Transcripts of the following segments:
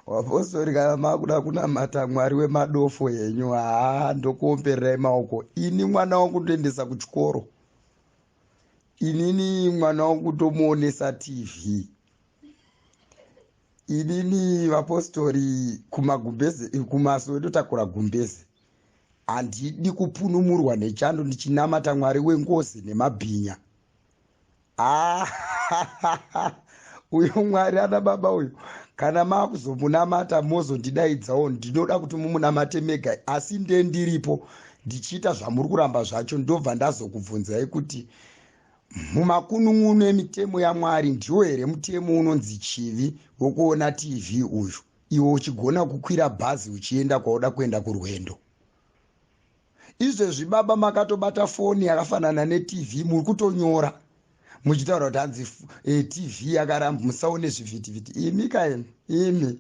vapostori kana makuda kunamata mwari wemadofo henyu haa ndokuombererai maoko ini mwana wangu ndoendesa kuchikoro inini mwana wangu ndomuonesa tv inini vapostori kumagumbeze kumasowe ndotakura gumbeze handidi kupunumurwa nechando ndichinamata mwari wengozi nemabhinya ah, uyo mwari ana baba uyo kana maakuzomunamata mozondidaidzawo ndinoda kuti mumunamate mega asi nde ndiripo ndichiita zvamuri kuramba zvacho ndobva ndazokubvunzai kuti mumakunun'unu emitemo yamwari ndiwo here mutemo unonzi chivi wokuona tv uyu iwe uchigona kukwira bhazi uchienda kwauda kuenda kurwendo izvezvi baba makatobata foni yakafanana netv muri kutonyora muchitaura kuti hanzi e, tv yakaramba musaone zvivhitivhiti imi kaini imi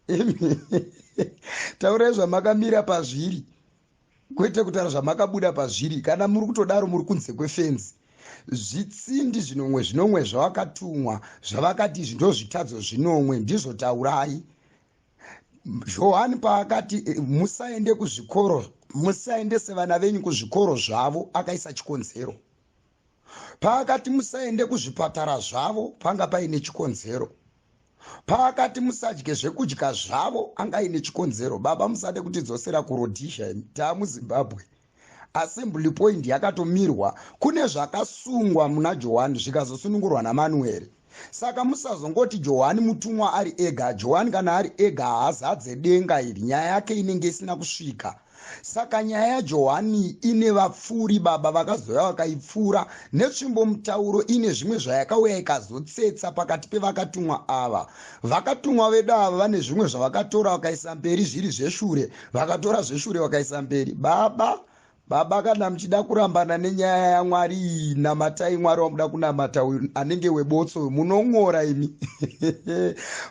imi taurai zvamakamira pazviri kwete kutaura zvamakabuda pazviri kana muri kutodaro muri kunze kwefenzi zvitsindi zvinomwe zvinomwe zvavakatumwa zvavakati izvi ndozvitadzo zvinomwe ndizvo taurai johani paakati eh, musaende kuzvikoro musaendese vana venyu kuzvikoro zvavo akaisa chikonzero paakati musaende kuzvipatara zvavo panga paine chikonzero paakati musadye zvekudya zvavo anga aine chikonzero baba musade kutidzosera kurodhizha imi taamuzimbabwe assembly point yakatomirwa kune zvakasungwa muna johani zvikazosunungurwa namanueri saka musazongoti johani mutumwa ari ega johani kana ari ega haazadze denga iri nyaya yake inenge isina kusvika saka nyaya yajohani ine vapfuuri baba vakazouya vakaipfuura netsvimbo mutauro ine zvimwe zvayakauya ikazotsetsa pakati pevakatumwa ava vakatumwa vedu ava vane zvimwe zvavakatora vakaisa mberi zviri zveshure vakatora zveshure vakaisa mberi baba baba kana muchida kurambana nenyaya yamwari iyi namatai mwari wamuda kunamata uyu anenge webotso uyu munon'ora imi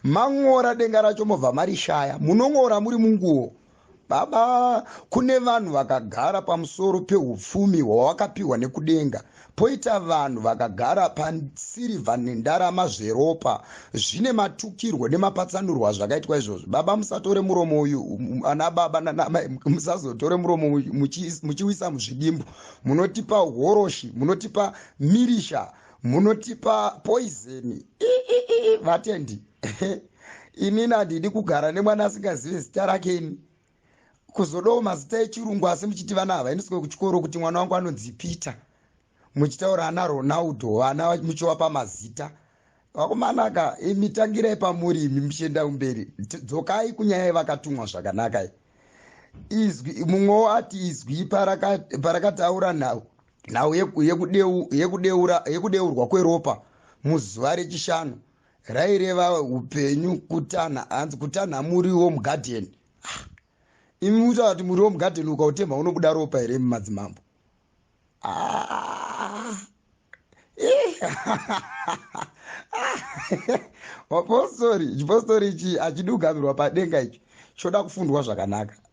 man'ora denga racho mobva marishaya munon'ora muri munguwo baba kune vanhu vakagara pamusoro peupfumi hwawakapiwa nekudenga poita vanhu vakagara pasirivha nendarama zveropa zvine matukirwo nemapatsanurwo azvakaitwa izvozvo baba musatore muromo uyu um, ana baba nanamai musazotore muromo muchiwisa muzvidimbu munotipa horoshi munotipa mirisha munotipa poizeni vatendi inini handidi kugara nemwana asingazive zita rake ini kuzodawo mazita echirungu asi muchiti vana havaendeswe kuchikoro kuti mwana wangu anonzi peter muchitaura ana ronaldo vana muchiwapa mazita vakomanaka imi tangirai pamuri imi muchienda kumberi dzokai kunyaya yevakatumwa zvakanaka izwi mumwewo ati izwi parakataura nhau nhau yekudeurwa kweropa muzuva rechishanu raireva upenyu kutanha hanzi kutanha muriwo womugadheni ah, imi mutaura kuti muriwo womugadheni ukautemha unobuda ropa here imi madzimambo ah, mapostori chipostori ichi achidugamirwa padenga ichi choda kufundwa zvakanaka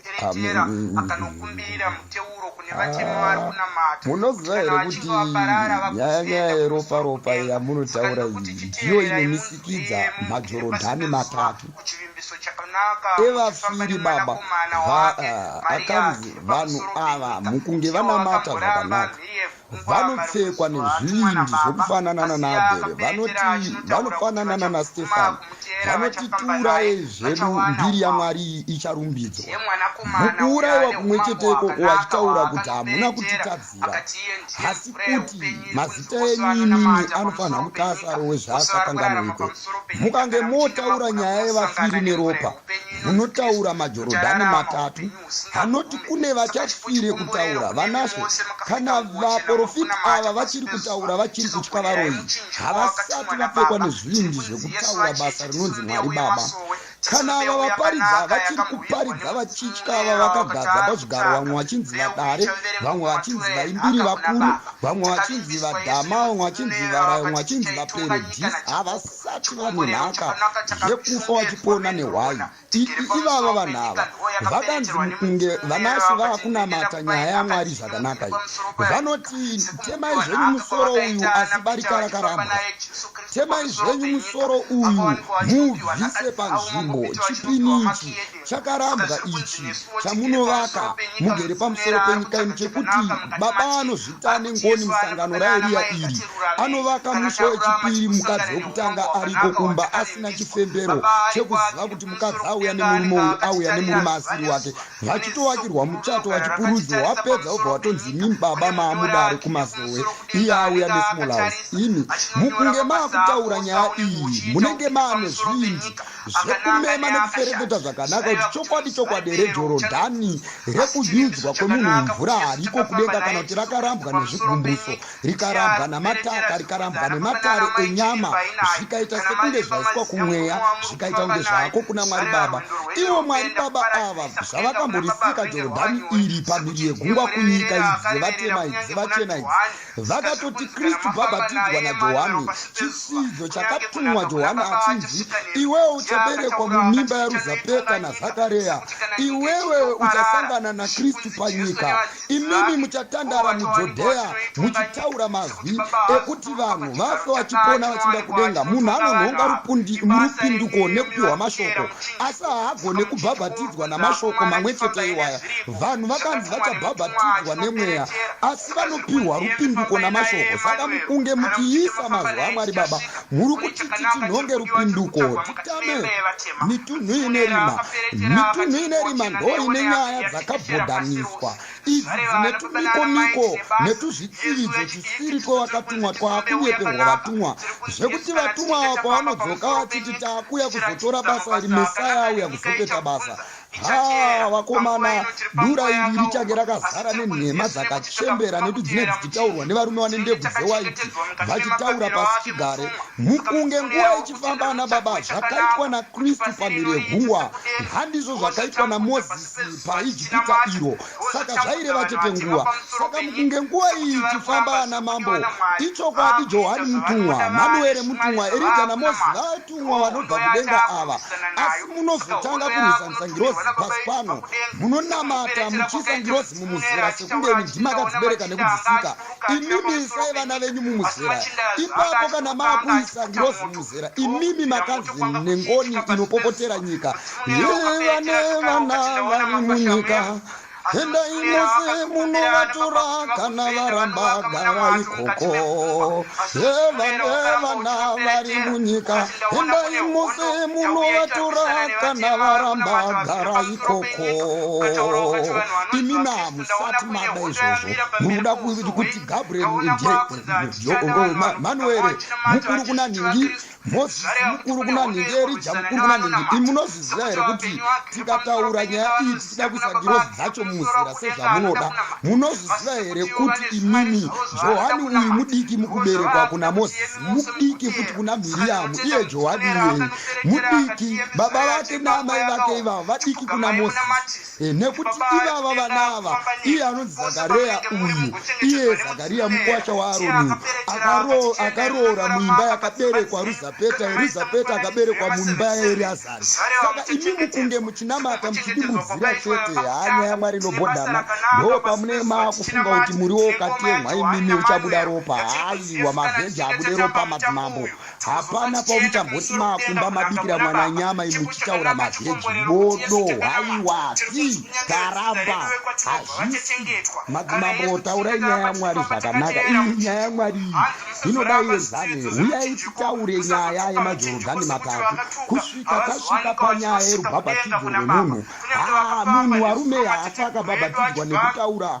Nderetera akanokumbira muteuro kune vatema vari kunamata munoziva here kuti nyaya nyaya yeroparopa yamunotaura iyi ndiyo inomisikidza majorodhani matatu evafiri baba akanzi vanhu ava mukunge vanamata zvakanaka vanopfekwa nezvivindi zvokufanana nanaabhere vanoti vanofanana nanastefani vanoti tiuraye zvedu mbiri yamwari icharumbidzwa mukuurayiwa kumwe cheteko wachitaura kuti hamuna kutitadzira asi kuti mazita enyu imimi anofanira mukasaro wezvaasakanganwiko mukange motaura nyaya yevafiri neropa munotaura majorodhani matatu anoti kune vachafire kutaura vanashe kana vaprofiti ava vachiri kutaura vachiri kutya varoyi havasati vapfekwa nezvindi zvekutaura basa rinonzi mwari baba kana ava vaparidza vachiri kuparidza vachitya ava vakagadza pazvigaro vamwe vachinzi vadare vamwe vachinzi vaimbiri vakuru vamwe vachinzi vadhama vamwe vachinzi varaya vamwe vachinzi vaperedhisi havasati vane nhaka yekufa vachipona nehwayi ivava vanhu ava vakanzi mukunge vanasi vava kunamata nyaya yamwari zvakanaka i vanoti temai zvenyu musoro uyu asi barika rakaramba temai zvenyu musoro uyu mubvise panzvimbo chipini ichi chakarambwa ichi chamunovaka mugere pamusoro penyika ino chekuti baba anozvi ane ngoni musangano raeriya iri anovaka musi wechipiri mukadzi wekutanga ariko kumba asina chifembero chekuziva kuti mukadzi auya nemurume uyu auya nemurume asiri wake vachitovakirwa muchato vachipurudzwa wapedza obva watonzi imi baba maamudare kumazowe iye auya nesmall house imi mukunge maakutaura nyaya iyi munenge maane zvinji zvekumema nekuferefeta zvakanaka kuti chokwadi chokwadi here jorodhani rekududzwa kwemunhu mumvura hariko kudenga kana kuti rakarambwa nezvigumbuso rikarambwa namataka rikarambwa nematare enyama zvikaita sekunge zvaiswa kumweya zvikaita kunge zvako kuna mwari baba ivo mwari baba ava zvavakamborisika jorodhani iri pamhiri yegungwa kunyika idzi dzevatema idzi dzevachena idzi Vakatoti Kristu bhabhatidzwa naJohani chisidzo chakatumwa Johani achinzi, Iwewe uchaberekwa mumimba yaRuzapeta naZakareya, iwewe uchasangana naKristu panyika. Imimi muchatandara muJodheya muchitaura mazwi ekuti vanhu vafe vachipona vachinda kudenga. Munhu anonhonga rupinduko nekupiwa mashoko, asi haagone kubhabhatidzwa namashoko mamwe chete iwaya. vanhu vakanzi vachabhabhatidzwa nemweya asi vanopiwa rupinduko namashoko saka mukunge muchiisa mazuva amwari baba muri kutiti tinhonge rupinduko titame mitunhu ine rima mitunhu ine rima ndo ine nyaya dzakabhodhaniswa idzi dzine tumikomiko netuzvitsividzo tisiri twevakatumwa twaakunyeperwa vatumwa zvekuti vatumwa ava kwavanodzoka vachiti taakuya kuzotora basa iri mesaya auya kuzopeta basa haa vakomana dura iri richange rakazara nenhema dzakachembera nekuti dzinenge dzichitaurwa nevarume vane ndebvu dzewaiti vachitaura pasi chigare mukunge nguva ichifamba ana baba zvakaitwa nakristu pamhiri yegungwa handizvo zvakaitwa namozisi paijipita iro saka zvaireva chete nguva saka mukunge nguva iyi ichifamba ana mambo ichokwadi johani mutumwa manuere mutumwa erija namozi vatumwa vanobva kudenga ava asi munozotanga kurwisanisa ngirozi pasi pano munonamata muchiisa ngirozi mumuzera sekundeni ndimakadzibereka nekudzisika imimi isai vana venyu mumuzera ipapo kana maakuisa ngirozi mumuzera imimi makazini nengoni inopopotera nyika yevane vana vari munyika endai mose munovatora kana varamba gara ikoko evanevana vari munyika endai mose munovatora kana varamba gara ikoko imi na musati mada izvozvo munoda kuti gabriel ndiye manuere mukuru kuna nhingi mozisi mukuru kuna nhingi erija mukuru kuna nhingi imi munozviziva here kuti tikataura nyaya iyi tichida kuisa ngirozi dzacho muzira sezvamunoda munozviziva here kuti imimi johani uyu mudiki mukuberekwa kuna mozisi mudiki futi kuna miriyamu iye johani iyeye mudiki baba vake naamai vake ivavo vadiki kuna mozisi Eh, nekuti ivava vana ava iye anonzi zakareya uyu iye zakariya mukwasha waaroni akaroora muimba yakaberekwa ruzapeta eruzapeta akaberekwa muimba yaeriazari saka imi mukunge muchinamata muchidibudzira chete hanya yamwari inobhodhana ndo pamune maakufunga kuti muriwo ukatemwa imimi uchabuda ropa haiwa mavheji abude ropa madzimambo hapana pauchamboti makumba mabikira mwana nyama imuchitaura mavheji bodo haiwasi karamba hazvisi madzimambo taurai nyaya yamwari zvakanaka iyi nyaya yamwari iyi inoda yezane huyai titaure nyaya yemajorogani matatu kusvika tasvika panyaya yerubhabhatidzo rwemunhu haa munhu warume haafa akabhabhatidzwa nekutaura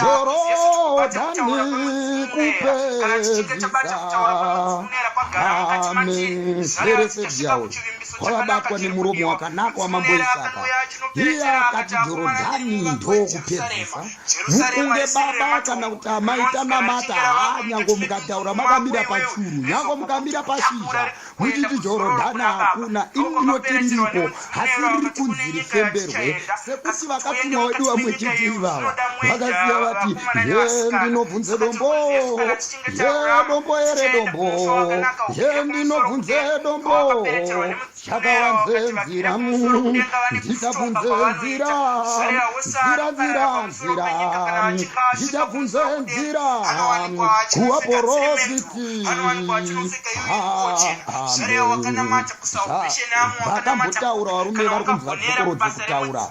Dorodani kupedzisa amiserese dyawo kwavabatwa nemuromo wakanaka wamambo isaka iye akati jorodhani ndokupedzisa mukunge baba kana kuti amai tanamata haa nyango mukataura makamira pachuru nyango mukamira pashizha muchiti jorodhana hakuna ini ndinoti ndiko hasi riri kunzi rifemberwe sekuti vakatumwa wedu vamwe chiti ivava vakasiya vati ye ndinobvunze dombo ye dombo ere dombo ye ndinobvunze dombo chakawanze nzira ndichabvunze nzira nzira nzira nzira ndichabvunze nzira kuvaporofiti vakambotaura varume vari kunzi vakokorodze kutaura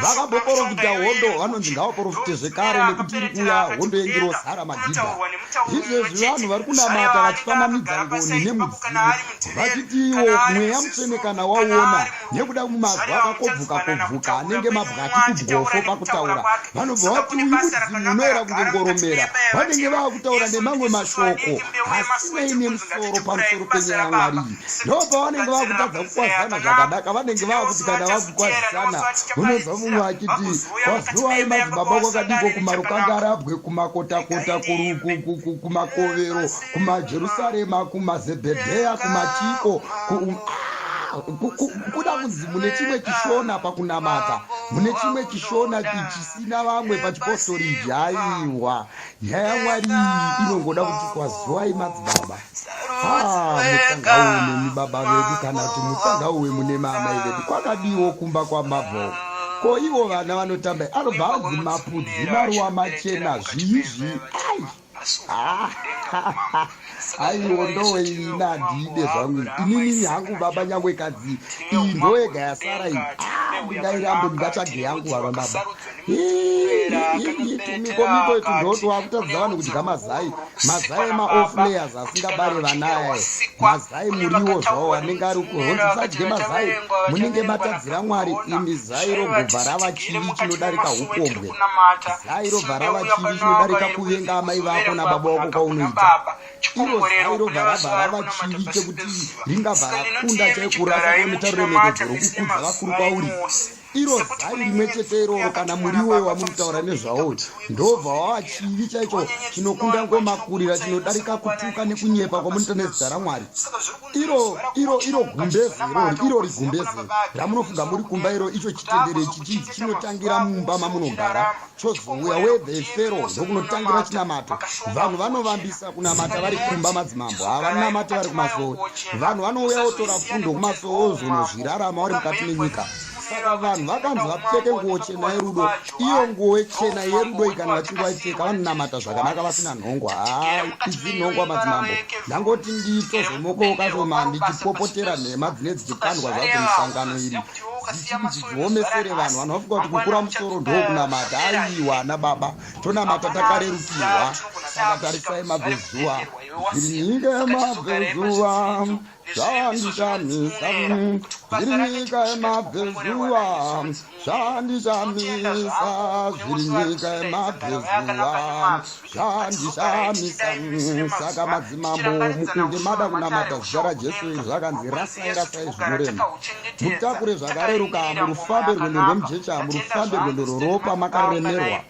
vakaboporofita hondo vanonzi ngavaporofite zvekare nekuti iri kuya hondo yengirosara magidha izvezvi vanhu vari kunamata vachifananidza ngoni nemudzimu vachitiwo mweya mutsvene kana wauona nekuda mazwi akakobvuka kobvuka anenge mabwati kudwofo pakutaura vanobva vati uyu mudzimu unoera kunge ngoromera vanenge vava kutaura nemamwe mashoko asinei nemusoro pamusoro penyaya yamwari iyi ndopa vanenge vava kutadza kukwazisana zvakadaka vanenge vava kuti kana vava kukwazisana unonzwa mumwe achiti kwaziwai madzibaba kwakadiko kumarukanga arabwe kumakotakota kumakovero kumajerusarema kumazebhedheya kumachiko kuda kunzi mune chimwe chishona pakunamata mune chimwe chishona chisina vamwe pachipostoriji aiwa nyaya yamwari iyi inongoda kuti kwazuvai madzibaba ah, mutsangauwe nemi baba vedu kana kuti mutsangauwe mune maamai vedu kwakadiwo kumba kwamabvoo ko ivo vana vanotamba anobva anzi mapudzi maruwa machena zviizvi ai aiwo ndowe ini handiide zvangu inini hangu baba nyangwe kadzi iyi ndoyega yasara iyi ah, ndingairambe ndingatsvage yangu vava baba mikomiko yetu ndoto wakutadza vanhu kudya mazai mazai maoflayers asingabare vanaye mazai muriwo zvawo anenge ari kuhonzi sadye mazai munenge matadzira mwari imi zai rogobva rava chivi chinodarika upombwe kunamata zairo bvarava chivi chinodarika kuvenga amai vako nababa vako kwaunoita iro zairo bvarava rava chivi chekuti ringavhara kunda chaikurasa kwamitauro yemededzero kukudza vakuru kwauri iro zai rimwe chete iroro kana muriwo wamunotaura nezvawo ndobva wava chivi chaicho chinokunda ngomakurira chinodarika kutuka nekunyepa kwamunoita nezita ramwari iro iro iro gumbezero iro rigumbezero ramunofunga muri kumba iro icho chitendere ichi chinzi chinotangira mumba mamunogara chozouya wevhefero ndokunotangira chinamato vanhu vanovambisa kunamata vari kumba madzimambo havanamate vari kumasowe vanhu vanouya votora fundo kumasowe ozonozvirarama vari mukati menyika saka vanhu vakanzi vapfeke nguo chena yerudo iyo nguo chena yerudo ikana vachinge vaipfeka vanonamata zvakanaka vasina nhongwa haa izvi nhongwa madzimambo ndangoti ndito zvomokoka zvoma ndichipopotera nhema dzine dzichikandwa zvadzo musangano iri dzichiomesere vanhu vanhu vafunga kuti kukura musoro ndokunamata aiwa ana baba tonamata takarerukirwa saka tarisai mabvezuva zviringa mabvezuva zvanditamisa zviri nyika yemabvezuva zvanditamisa zviri nyika yemabvezuva zvanditamisa saka madzimambo mukunge mada kunamata zuva rajesu iri zvakanzi rasai rasai zvinorema mutakure zvakareruka murufambe rwendo rwemujecha murufambe rwendo rworopa makaremerwa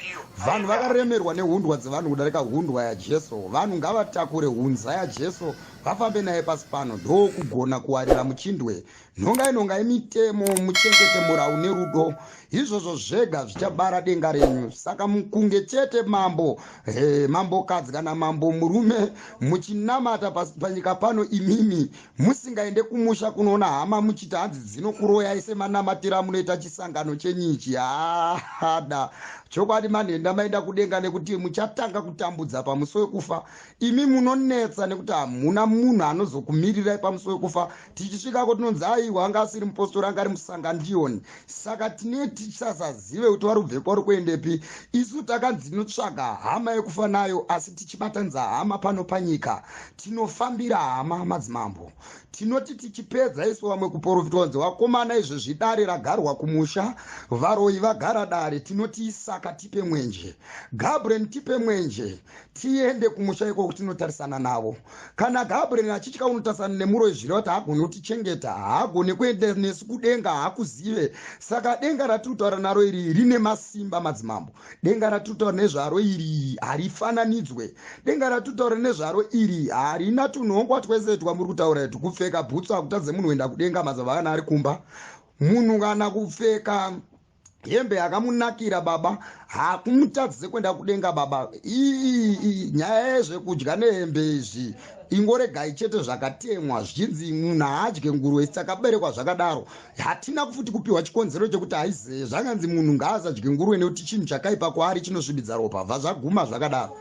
vanhu vakaremerwa nehundwa dzevanhu kudarika hundwa yajesu vanhu ngavatakure hunza yajesu ya vafambe naye pasi pano ndokugona kuwarira muchindwe nhongai nhongai mitemo muchengete mura une rudo izvozvo zvega zvichabara denga renyu saka mukunge chete mambo eh, mambokadzi kana mambo murume muchinamata pasi panyika pano imimi musingaende kumusha kunoona hama muchiti hanzi dzinokuroyai semanamatira munoita chisangano chenyichi haada chokwadi manhenda maenda kudenga nekuti muchatanga kutambudza pamusi wekufa imi munonetsa nekuti hamuna munhu anozokumirirai pamusi wekufa tichisvikako tinonzi aiwa anga asiri mupostori anga ari musangandiyoni saka tine tichasazive kuti vari kubvepo vari kuendepi isu takanzi tinotsvaga hama yekufa nayo asi tichibatanidza hama pano panyika tinofambira hama madzimambo tinoti tichipedza isu vamwe kuporofitwa kunzi vakomana izvo zvidare ragarwa kumusha varoyi vagara dare tinoti isaka tipe mwenje gabren tipe mwenje tiende kumusha ikoko tinotarisana navo kana gabriel achitya unotarisana nemuro izviri vati haagoni kutichengeta haagoni kuenda nesu kudenga haakuzive saka denga ratiri kutaura naro iri rine masimba madzimambo denga ratiri kutaura nezvaro iri harifananidzwe denga ratiri kutaura nezvaro iri harina tunhongwa twese twamuri kutaura itu kupfeka bhutsu hakutadze munhu kuenda kudenga mazava kana ari kumba munhu kana kupfeka hembe yakamunakira baba hakumutadzise kwenda kudenga baba ii nyaya yezvekudya nehembe izvi ingoregai chete zvakatemwa zvichinzi munhu haadye nguruve isi takaberekwa zvakadaro hatina kufuti kupiwa chikonzero chekuti haizee zvakanzi munhu ngaasadye nguruve nekuti chinhu chakaipa kwaari chinosvibidza ropa bva zvaguma zvakadaro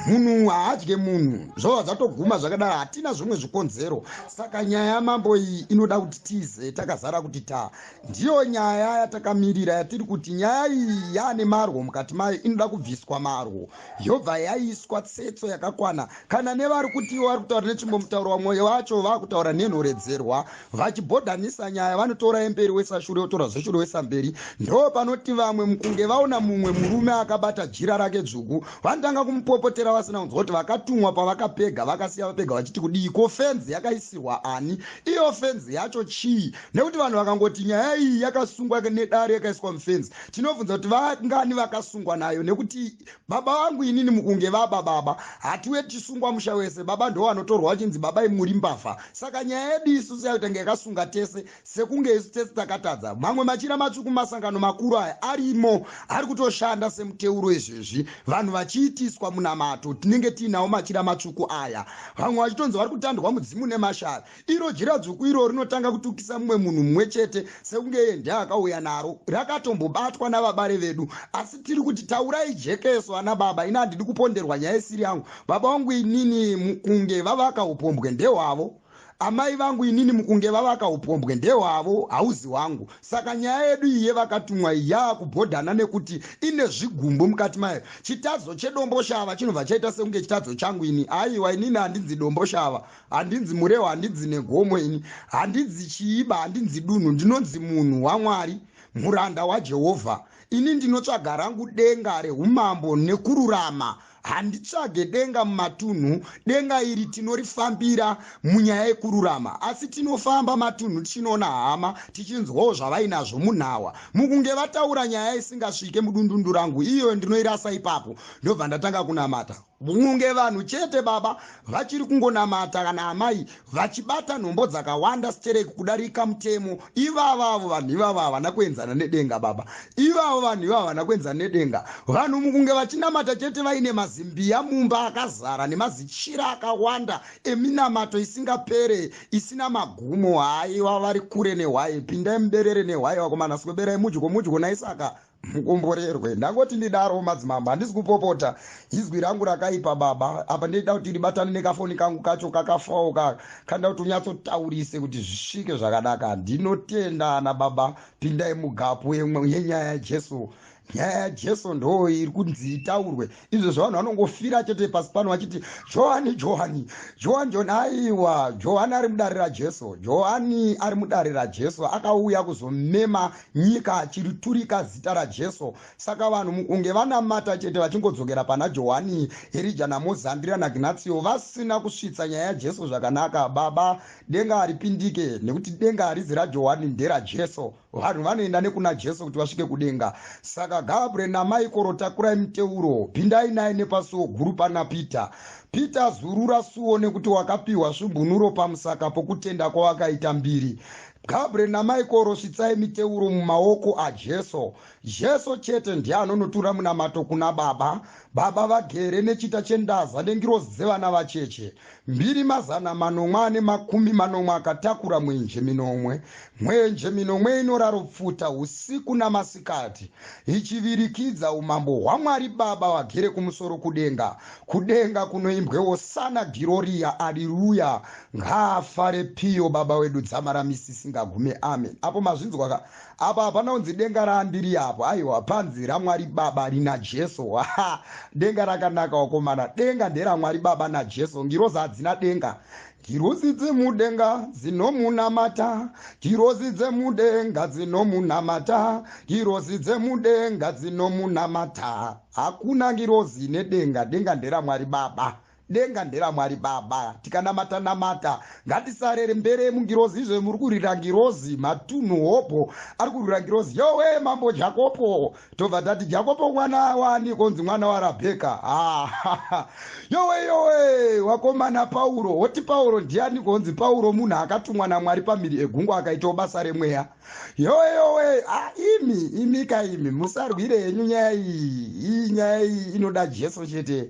munhu haadye munhu zvova zvatoguma zvakadaro hatina zvimwe zvikonzero saka nyaya yamambo iyi inoda kuti tize takazara kuti ta ndiyo nyaya yatakamirira yatiri kuti nyaya iyi yaane marwo mukati mayo inoda kubviswa marwo yobva yaiswa tsetso yakakwana kana nevari kuti ivo vari kutaura nechimbomutauro vamwe vacho vakutaura nenhoredzerwa vachibhodhanisa nyaya vanotora yemberi wesashure otora zveshure wesamberi ndo panoti vamwe mukunge vaona mumwe murume akabata jira rake dzvuku vanotanga kumupopotera vasina kunzwa kuti vakatumwa pavakapega vakasiya vapega vachiti kudii ko fenzi yakaisirwa ani iyo fenzi yacho chii nekuti vanhu vakangoti nyaya iyi yakasungwa nedare yakaiswa mufenzi tinobvunza kuti vangani vakasungwa nayo nekuti baba vangu inini mukunge vaba baba hatiwe tichisungwa musha wese baba ndo vanotorwa vachinzi baba imuri mbavha saka nyaya yedu isu seyakutanga yakasunga tese sekunge isu tese takatadza mamwe machira matsvuku masangano makuru aya arimo ari kutoshanda semuteuro izvezvi vanhu vachiitiswa munamato tinenge tiinawo machira matsvuku aya vamwe vachitonzi vari kutandwa mudzimu nemashara iro jiradzvuku iro rinotanga kutukisa mumwe munhu mumwe chete sekunge iye ndiye akauya naro rakatombobatwa navabare vedu asi tiri kuti taurai jekeso ana baba ini handidi kuponderwa nyaya isiri yangu baba vangu inini mukunge vavaka upombwe ndehwavo amai vangu inini mukunge vavaka upombwe ndehwavo hauzi wangu saka nyaya yedu iye vakatumwa yaakubhodhana nekuti ine zvigumbu mukati mayo chitadzo chedomboshava chinobva chaita sekunge chitadzo changu ini aiwa inini handinzi domboshava handinzi murehwa handinzi negomo ini handinzi chiiba handinzi dunhu ndinonzi munhu wamwari muranda wajehovha ini ndinotsvaga rangu denga reumambo nekururama handitsvage denga mumatunhu denga iri tinorifambira munyaya yekururama asi tinofamba matunhu tichinoona hama tichinzwawo zvavainazvo munhawa mukunge vataura nyaya isingasvike mudundundu rangu iyoyo ndinoirasa ipapo ndobva ndatanga kunamata Muunge vanhu chete baba vachiri kungonamata kana amai vachibata nhombo dzakawanda sterek kudarika mutemo ivavo avo vanhu ivavo havana kuenzana nedenga baba ivavo vanhu ivavo havana kuenzana nedenga vanhu mukunge vachinamata chete vaine mazimbiya mumba akazara nemazichira akawanda eminamato isingapere isina magumo haiwa vari kure nehwaye pindai muberere nehwaye vakomana sweberai mudyo mudyo naisaka mukomborerwe ndangoti ndidaro madzimambo handisi kupopota izwi rangu rakaipa baba apa ndeida kuti ndibatane nekafoni kangu kacho kakafawo kaka kanda kuti unyatsotaurise kuti zvisvike zvakanaka ndinotenda ana baba pindai mugapu yenyaya yajesu nyaya yajesu ndoo iri kunzi itaurwe izvo zvavanhu vanongofira chete pasi pano vachiti johani johani johani johani aiwa johani ari mudare rajesu johani ari mudare rajesu akauya kuzomema nyika achiriturika zita rajesu saka vanhu mukunge vanamata chete vachingodzokera pana johani herija namozandira nagnatio vasina kusvitsa nyaya yajesu zvakanaka baba denga haripindike nekuti denga harizi rajohani nderajesu vanhu vanoenda nekuna jesu kuti vasvike kudenga saka gabriel namaikoro takurai muteuro pindai naye nepasuo guru pana peter peter zurura suo nekuti wakapiwa svumbunuro pamusaka pokutenda kwawakaita mbiri gabriel namaikoro svitsai miteuro mumaoko ajesu Jesu chete ndiye anonotura munamato kuna Baba. Baba vagere nechita chendaza nengirozi dzevana vacheche mbiri mazana manomwe ane makumi manomwe akatakura mwenje minomwe. Mwenje minomwe inoraro pfuta usiku namasikati ichivirikidza umambo hwaMwari Baba vagere kumusoro kudenga. Kudenga kunoimbwe Hosana Giroria Aliluya ngaafare Pio Baba wedu dzamara misi isingagume Amen. Apo mazvinzwa ka apa hapana unzi denga raandiri apo aiwa panzi ramwari baba rina jesu ha denga rakanaka wakomana denga nderamwari baba najesu ngirozi hadzina denga ngirozi dzemudenga dzinomunamata ngirozi dzemudenga dzinomunamata ngirozi dzemudenga dzinomunamata hakuna ngirozi nedenga denga nderamwari baba denga nderamwari baba tikanamata namata ngatisarere mbere mungirozi izvo muri kurira ngirozi matunhu hobho ari kurira ngirozi yowe mambo jakopo tobva tati jakopo mwana wani konzi mwana warabheka ah, yowe yowe wakomana pauro woti pauro ndiani konzi pauro munhu akatumwa namwari pamiri egungwa akaitawo basa remweya yowe yowe ah, imi imika imi musarwire henyu nyaya iyi iyi nyaya iyi inoda jesu chete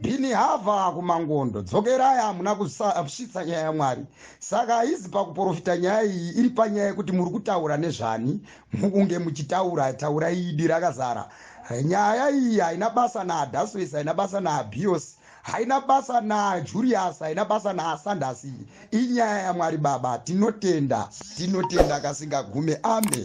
bhini hava kumangondo dzokerai hamuna kusvitsa nyaya yamwari saka haizi pakuprofita nyaya iyi iri panyaya yekuti muri kutaura nezvani mukunge muchitaura taura idi rakazara nyaya iyi haina basa naadaswes haina basa naabios haina basa najulius haina basa naasandasi inyaya yamwari baba tinotenda tinotenda kasingagume ame